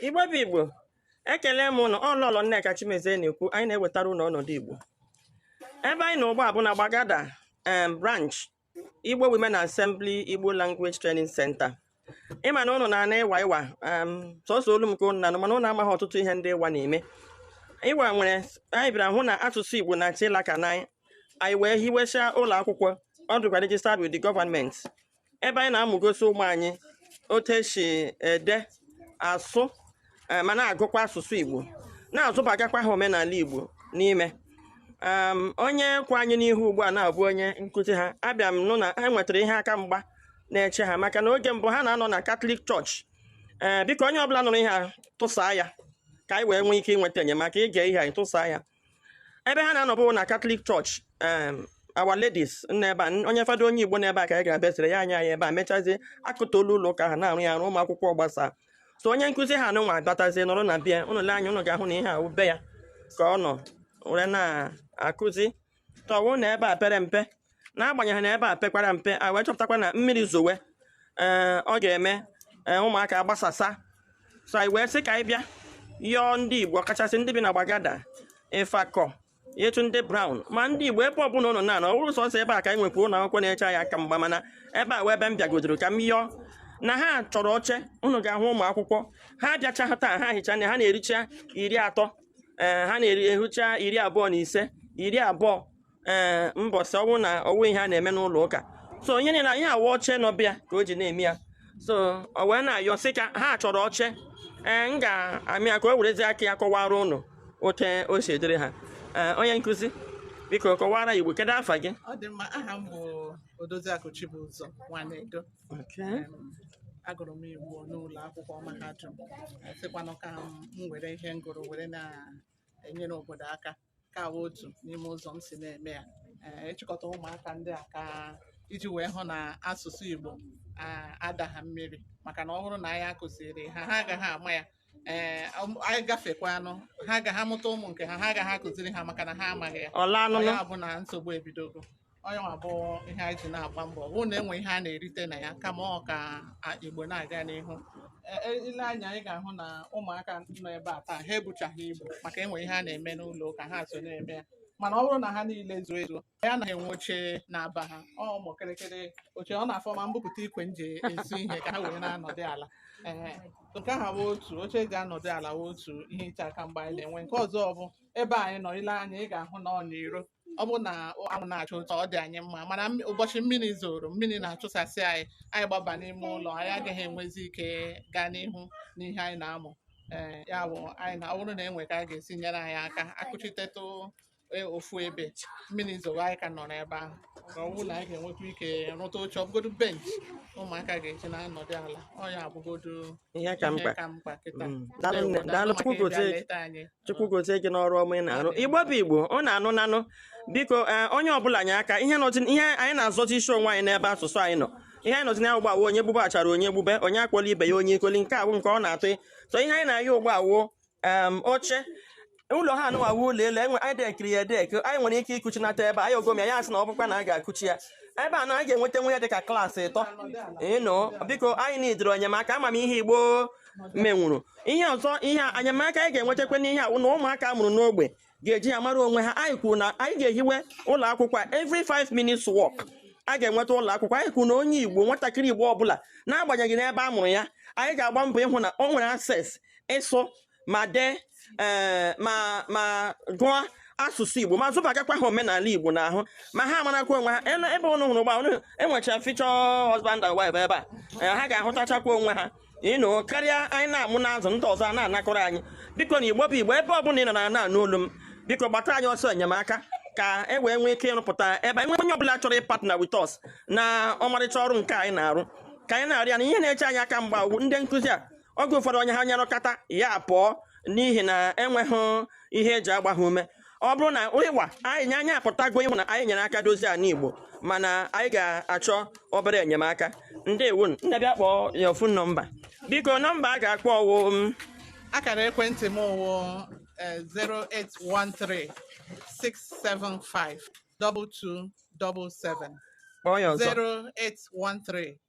igbo bụ igbo ekele m ụnụ ọ lọlọ nneka chimezie na-ekwu anyị na-ewetara ụnụ ọnọdụ igbo ebe anyị nọ ugbu a bụ na gbagada em branch igbo women assembly igbo language training center ị ma na ụnụ na-anụ iwa iwa em sọsọ olu m ka ụnụ na-anụ mana ụnụ amaghị ọtụtụ ihe ndị iwa na-eme iwa nwere anyị bịara hụ na asụsụ igbo na-achọ ịlaka n'anyị anyị wee hiwesịa ụlọ akwụkwọ ọ dịkwa registered with the government ebe anyị na-amụgosi ụmụ anyị otu esi ede asụ eh, ma na-agụkwa asụsụ Igbo na-azụbagakwa ha omenala Igbo n'ime um, onye kwụ anyị n'ihu ugbu a na-abụ onye nkụzi ha abịa m nụ na ha nwetara ihe aka mgba na-eche ha maka na oge mbụ ha na-anọ na Catholic church ee eh, biko onye ọbụla nụrụ ihe a tụsaa ya ka anyị wee nwee ike inweta enyemaka i gee ihe a ị tụsaa ya ebe ha na-anọbụ na catholic church em, our ladies n'ebe a n- onye fada onye igbo n'ebe a ka anyị ga-abịa sịrị ya nye anyị ebe a mechazie akụtuo ụlọ ụka ha na-arụ ya arụ ụmụ akwụkwọ gbasaa so onye nkụzi ha nụnwa abatazie nọrọ na be ya ụnụ lee anya ụnụ ga-ahụ na ihe a wụ be ya ka ọ nọ were na-akụzi though na ebe a pere mpe n'agbanyeghị na ebe a pekwara mpe a wee chọpụtakwa na mmiri zowe ee ọ ga-eme ee, ụmụaka agbasasa so anyị wee sị ka anyị bịa yọọ ndị igbo ọkachasị ndị bi na gbagada ifako ịtụ ndị brown ma ndị igbo ebe ọbụla ụnụ na-anọ ọ bụrọ sọsọ ebe a ka anyị nwekwa ụlọ akwụkwọ na-eche anyị aka mgba mana ebe a wụ ebe m bịagodoro ka m yọọ na ha chọrọ oche ụnụ ga-ahụ ụmụ akwụkwọ ha abịachaha taa ha hicha na ha na-erucha iri atọ ee ha na-erucha iri abụọ na ise iri abụọ ee mbọsị ọ wụ na o nwe ihe a na-eme n'ụlọ ụka so onye lee anya ihe a wụ oche nọ be ya ka o ji na-eme ya so ọ wee na-ayọ sị ka ha chọrọ oche ee m ga-eme ya ka o werezi aka ya kọwara ụnụ otu o si dịrị ha ee onye nkụzi biko kọwara igbo kedu afa gị ọ dị mma aha m bụ odoziakụ chibụzọ nwanedo Em, agụrụ m igbo n'ụlọ akwụkwọ mahadum sịkwanụ ka m were ihe m gụrụ were na-enyere obodo aka nke a bụ otu n'ime ụzọ m si na-eme ya ịchịkọta e ụmụaka ndị a ka iji wee hụ na asụsụ Igbo adaha mmiri maka na ọ bụrụ na anyị akụziriha ha agaghị ama ya ee anyị gafekwanụ ha agaghị amụta ụmụ nke ha ha agaghị akụziri ha maka na ha amaghị ya ọ bụ na nsogbu ebidogo ọ yanwa bụ ihe anyị ji na-agba mbọ hụ na enwe ihe a na-erite na ya kama ọ ka a- igbo na-aga n'ihu E- e- i lee anya ị ga-ahụ na ụmụaka nọ ebe a taa ha ebuchaghị ibu maka e nwe ihe a na-eme n'ụlọ ụka ha so na-eme ya mana ọ bụrụ na ha niile zuo ezuo anyị anaghị enwe oche na-aba ha ọ ụmụ kịrịkịrị oche ọ na-afọ ma m bupụta ikwe m ji esu ihe ka ha wee na-anọdụ ala Ehe. nke ahụ bụ otu oche eji anọdụ ala bụ otu ihe iche aka mgba anyị na-enwe nke ọzọ bụ ebe anyị nọ i lee anya ị ga-ahụ na ọ n'iro ọ bụrụ na anwụ na-achụ ụtọ ọ dị anyị mma mana mmi- ụbọchị mmiri zoro mmiri na-achụsasị anyị anyị gbaba n'ime ụlọ anyị agaghị enwezi ike gaa n'ihu n'ihe anyị na-amụ ee ya bụ anyị na ọ bụrụ na e nwee ka a ga-esi nyere anyị aka a kụchitetụ e- ofu ebe mmiri zoro anyị ka nọ n'ebe ahụ ka ọ bụrụ na anyị ga-enwekwa ike rụta oche ọ bụgodu bench ụmụaka ga-eji na-anọdụ ala ọ ya bụgodu Ihe ka ihe mkpa. ka mkpa kịta Mm. Daalụ nne. Ndewo, Daalụ. daalụ Chukwu maka ịbịa gozie gị. leta anyị chukwu gozie gị n'ọrụ ọma ị na-arụ igbo bụ igbo ọ na-anụ nanụ biko ee, onye ọbụla nye aka ihe nọchi ihe anyị na-azọzi isi onwe anyị n'ebe asụsụ anyị nọ ihe anyị nọzi na ya ugbua wụ onye gbube achara onye gbube onye akpọla ibe ya onye ikoli nke a wụ nke ọ na-atụ so ihe anyị na-ayọ ugbua wụ em, oche ụlọ ha nọ a wụ ụlọ elu enwe anyị dekiri ya edek anyị nwere ike ịkụchinata ebe a, anyị ogom ya ya sị na ọ bụkwa na a ga-akụchi ya ebe a na a ga-enweta nwe ya dịka klaasị ịtọ ị nụ biko anyị needịrị enyemaka ama m ihe igbo menwuru ihe ọzọ ihe a, enyemaka anyị ga-enwetakwa n'ihe a wụ na ụmụaka a mụrụ n'ogbe ga-eji ya mara onwe ha anyị kwuru na anyị ga-ehiwe ụlọ akwụkwọ every 5 minutes walk a ga-enweta ụlọ akwụkwọ anyị kwuru na onye igbo nwatakịrị igbo ọbụla n'agbanyeghị n'ebe a mụrụ ya anyị ga-agba mbọ ịhụ na o nwere access ịsụ ma dee ee ma ma gụọ asụsụ igbo ma zụbagakwa ha omenala igbo n'ahụ ma ha marakwa onwe ha Ele- ebe ụnụ hụrụ ugbua ụnụ enwecha future husband and wife ebe a ee, ha ga-ahụtachakwa onwe ha ị nụ karịa anyị na-amụ na-azụ ndị ọzọ ana-anakọrọ anyị biko na igbo bụ igbo ebe ọbụla ị nọ na na-anụ olu m biko gbata anyị ọsọ enyemaka ka e wee nwee ike ịrụpụta ebe anyị nwee onye ọbụla chọrọ ịpartner with us n'ọmarịcha ọrụ nke anyị na-arụ ka anyị na-arịa na ihe na-eche anyị aka mgba ụgwọ ndị nkụzi a oge ụfọdụ onye ha nya rụkata ya apụọ n'ihi na enweghị ihe e ji agba ha ume ọ bụrụ na ịwa anyị nye anyị apụtago ịhụ na anyị nyere aka dozie ala Igbo mana anyị ga-achọ obere enyemaka ndewo nne bịa kpọọ ya phone nọmba biko nọmba a ga-akpọ wụ um, akara ekwentị m wụ 0813 675 2277 kpọọ ya ọzọ 0813